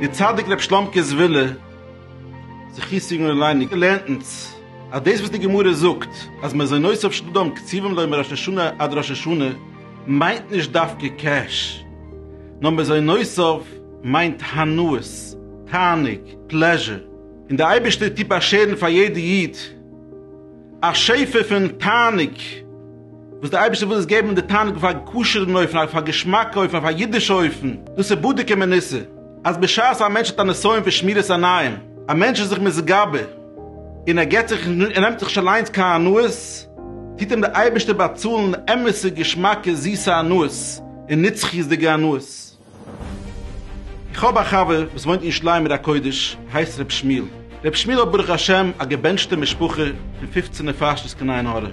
דער צדיק רבי שלומקע זווילה זכי' סיגנא עלייני לערנט אונז אז דאס וואס די גמרא זאגט אז מען זאל נוס אויף שדים קציבים להם מראש השנה עד ראש השנה מיינט נישט דווקא קעש נאר מען זאל נוס אויף מיינט הנאות, תענוג, pleasure. און די אייבערשטער טוט באשערן פאר יעדע איד א שפע פון תענוג, וואס די אייבערשטער וויל איז געבן די תענוג אויף א כשר'ן אופן, אויף א געשמאקע אופן, אויף א אידישע אופן, דאס איז בדוק ומנוסה, אז בשעת א מענטש האט א נסיון פון שמירת עיניים, א מענטש איז זיך מזגבה און ער געבט זיך און נעמט זיך נישט אליינס קיין הנאות, טוט אים די אייבערשטער באצאלן אמת'ע געשמאקע זיסע הנאות און נצחיות'דיגע הנאות. איך האב א חבר וואס וואוינט אין ירושלים עיר הקודש, הייסט ר' שמואל. ר' שמואל האט ברוך השם א געבענטשטע משפחה פון פופצן נפשות קיין עין הרע.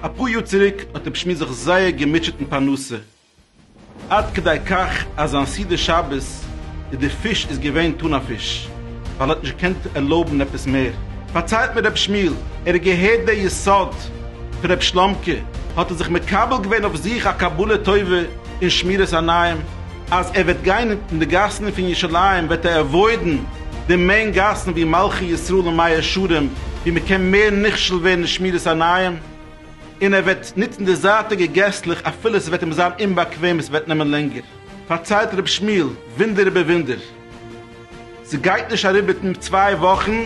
אפאר יאר צוריק האט ר' שמואל זיך זייער געמוטשעט אין פרנסה, עד כדי כך אז זיין סעודה שבת איז די פיש איז געווען טונא פיש, ווייל ער האט נישט געקענט ערלויבן עפעס מער. פארציילט מיר ר' שמואל, ער האט געהערט די יסוד, רב שלאמקע האט ער זיך מקבל געווען אויף זיך א קבלה טובה און שמירת עניים אז ער וועט גיין אין די גאסן פון ירושלים וועט ער עוואוידן די מעין גאסן ווי מלכי ישראל און מאה שערים ווי מען קען מער נכשל ווערן אין שמירת עניים און ער וועט נוצן די זייטיגע געסלעך אפילו עס וועט אים זיין אומבאקוועם עס וועט נעמען לענגער פארציילט רב שמואל ווינדער איבער ווינדער. ס'גייט נישט אריבער ט מ צוויי וואכן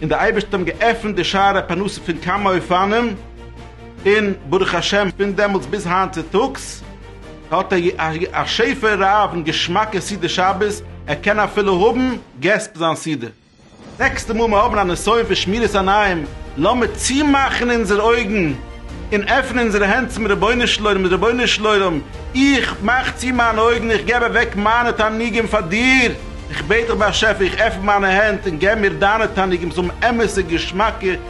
און די אייבערשטער האבן געעפנט די שערי פרנסה פון כמה אופנים, און ברוך השם פון דעמאלטס ביז היינט צוטאגס האט א י א שפע רב און געשמאקע סעודת שבת, ער קען אפילו האבן געסט ביי זיין סעודה. נעקסטע מאל מיר האבן א נסיון פון שמירת עיניים, לאמיר צומאכן אונזערע אויגן און עפענען אונזערע הענט צום רבונו של עולם, רבונו של עולם, איך מאך צו מיינע אויגן, איך געב אוועק מיינע תענוגים פאר דיר, איך בעט דיך באשעפער, איך עפן מיינע הענט און געב מיר דיינע תענוגים, זאל האבן אמת'ע געשמאקע